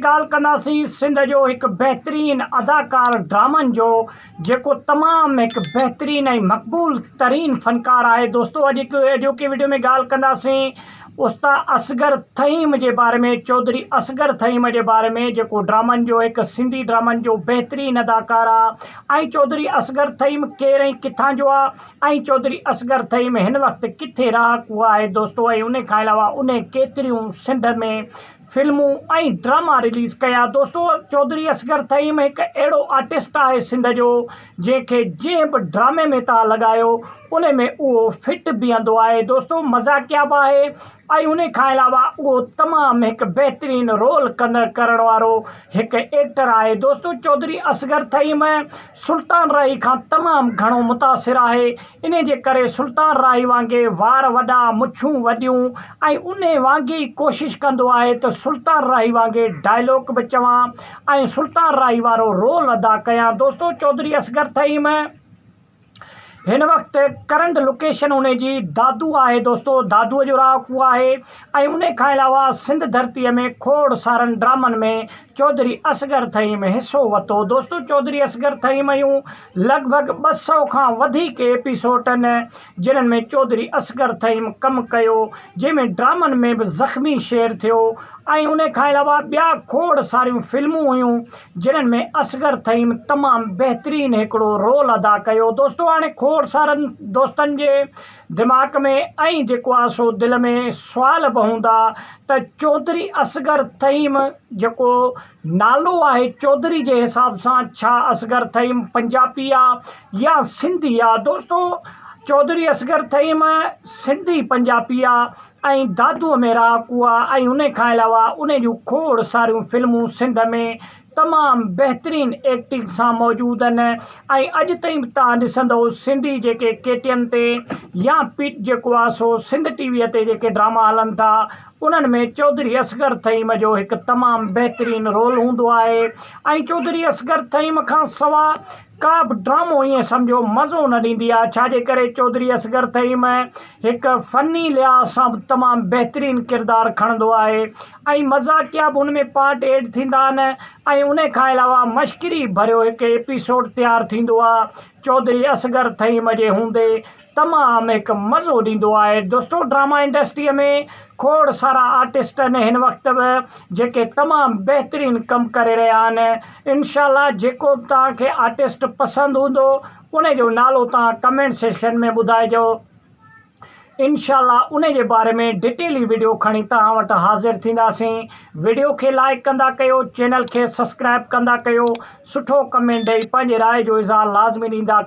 ڳالهه ڪنداسين سنڌ جو هڪ بهترين اداڪار ڊرامن جو جيڪو تمام هڪ بهترين ۽ مقبول ترين فنڪار آهي دوستو اڄ هڪ اڄوڪي ويڊيو ۾ ڳالهه ڪنداسين استا اصغر تھيم جي باري ۾ چوڌري اصغر تھيم جي باري ۾ جيڪو ڊرامن جو هڪ سنڌي ڊرامن جو بهترين اداڪار آ ۽ چوڌري اصغر تھيم ڪير ۽ ڪٿان جو آ ۽ چوڌري اصغر تھيم هن وقت ڪٿي رهاڪو آهي دوستو ۽ ان کان علاوه انهي ڪيتريون سنڌ ۾ فلمون ۽ ڊراما رليز ڪيا دوستو چوڌري اصغر ٿهيم هڪ اهڙو آرٽسٽ آهي سنڌ جو جنهن کي جنهن به ڊرامي ۾ تان لڳايو ان ۾ اهو فٽ بيهندو آهي دوستو مذاقيا به آهي ۽ ان کان علاوه اهو تمام هڪ بهترين رول ڪندڙ ڪرڻ وارو هڪ ايڪٽر آهي دوستو چوڌري اصغر ٿهيم سلطان راهي کان تمام گهڻو متاثر آهي، انهي جي ڪري سلطان راهي وانگي وار وڏا، مڇون وڏيون ۽ انهي وانگي ئي ڪوشش ڪندو آهي ته سلطان راهي وانگي ڊائلاگ به چوان ۽ سلطان راهي وارو رول ادا ڪيان دوستو چوڌري اصغر ٿهيم هن وقت ڪرنٽ لوڪيشن انهي جي دادو آهي دوستو دادو جو رهاڪو آهي ۽ انهي کان علاوه سنڌ ڌرتي ۾ کوڙ سارن ڊرامن ۾ چوڌري اصغر ٿهيم ۾ حصو وتو. دوستو چوڌري اصغر ٿهيم اهيون لڳ ڀڳ ٻه سئو کان وڌيڪ ايپيسوٽ ان جنھن ۾ چوڌري اصغر ٿهيم ڪم ڪيو جنھن ۾ ڊرامن ۾ به زخمي شير ٿيو ۽ انھي کان علاوه ٻيا کوڙ ساريون فلمون هيون جنھن ۾ اصغر ٿهيم تمام بهترين هڪڙو رول ادا ڪيو دوستو هاڻي کوڙ سارن دوستن جي دماغ ۾ ائين جيڪو آ سو دل ۾ سوال به هوندا ته چوڌري اصغر ٿهيم جيڪو نالو آهي چوڌري جي حساب سان ڇا اصغر ٿهيم پنجابي آ يا سنڌي آ دوستو چوڌري اصغر ٿهيم سنڌي پنجابي آ ۽ دادوء ۾ رهاڪو آ ۽ ان کان علاوه ان جون کوڙ ساريون فلمون سنڌ ۾ تمام بهترين ايڪٽنگ سان موجود آهن ۽ اڄ تائين به تهان ڏسندو سنڌي جيڪي ڪي ٽي اين تي يا پي جيڪو آهي سو سنڌ ٽي وي تي جيڪي ڊراما هلن ٿا انهن ۾ چوڌري اصغر تھيم جو هڪ تمام بهترين رول هوندو آهي ۽ چوڌري اصغر تھيم کان سوا ڪا به ڊرامو ائين سمجهو مزو نه ڏيندي آهي ڇا جي ڪري چوڌري اصغر ٿهيم ۾ هڪ فني لحاظ سان به تمام بهترين ڪردار کڻندو آهي ۽ مذاقيا به ان ۾ پارٽ ايڊ ٿيندا آهن ۽ ان کان علاوه مشڪري ڀريو هڪ ايپيسوڊ تيار ٿيندو آهي چوڌري اصغر ٿهيم جي هوندي تمام هڪ مزو ڏيندو آهي دوستو ڊراما انڊسٽري ۾ کوڙ سارا آرٽسٽ آهن هن وقت به جيڪي تمام بهترين ڪم ڪري رهيا آهن انشاء الله جيڪو به توهان کي آرٽسٽ پسند هوندو ان جو نالو توهان ڪمينٽ سيڪشن ۾ ٻڌائجو انشاء الله ان جي باري ۾ ڊيٽيلي ويڊيو کڻي توهان وٽ حاضر ٿينداسين ويڊيو کي لائڪ ڪندا ڪيو چينل کي سبسڪرائب ڪندا ڪيو سٺو ڪمينٽ ڏئي پنهنجي راء جو اظهار لازمي ڏيندا